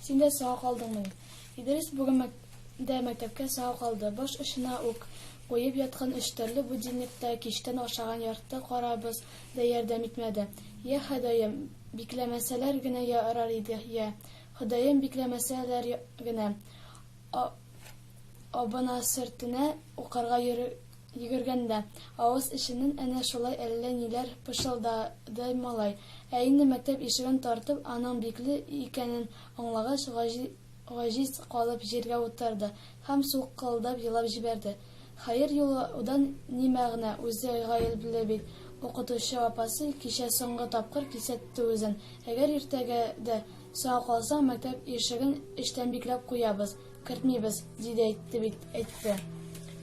Син дә сау калдыңмы? Идрис бүген мәк дә мәктәпкә сау калды. Баш очына ук куеп яткан өч төрле будильникта кичтән ашаган ярты карабыз да ярдәм итмәде. Я Ходаем, бикләмәсәләр генә ярар иде, я Ходаем, бикләмәсәләр генә. А, абына сөртенә укырга йөре, йөгергәндә, авыз эченнән әнә шулай әллә ниләр пышылдады малай. Ә инде мәктәп ишеген тартып, аның бикле икәнен аңлагач, гаҗи, гаҗиз калып җиргә утырды һәм сулкылдап елап җибәрде. Хәер, елаудан ни мәгънә, үзе гаепле бит, укытучы апасы кичә соңгы тапкыр кисәтте үзен, әгәр иртәгә дә Сиңа калса, мәктәп ишеген эчтән бикләп куябыз, кертмибез, ди дә әйтте бит, әйтте.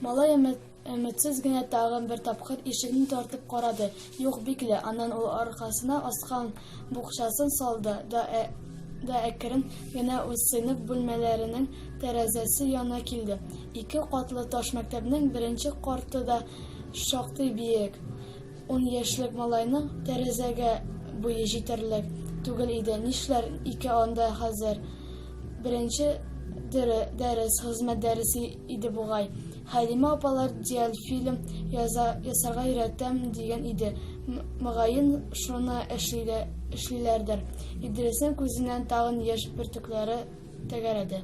Малай өметсез генә тагын бер тапкыр ишекне тартып карады, юк, бикле, аннан ул аркасына аскан букчасын салды да әкрен генә үз сыйныф бүлмәләренең тәрәзәсе янына килде. Ике катлы таш мәктәпнең беренче карты да шактый биек. Ун яшьлек малайның тәрәзәгә буе җитәрлек түгел иде, нишләр ике анда хәзер? Беренче дәрес, хезмәт дәресе иде бугай. Хәлимә апалар диальфильм ясарга өйрәтәм дигән иде, мөгаен, шуны эшлиләрдер. Идриснең күзеннән тагын яшь бөртекләре тәгәрәде.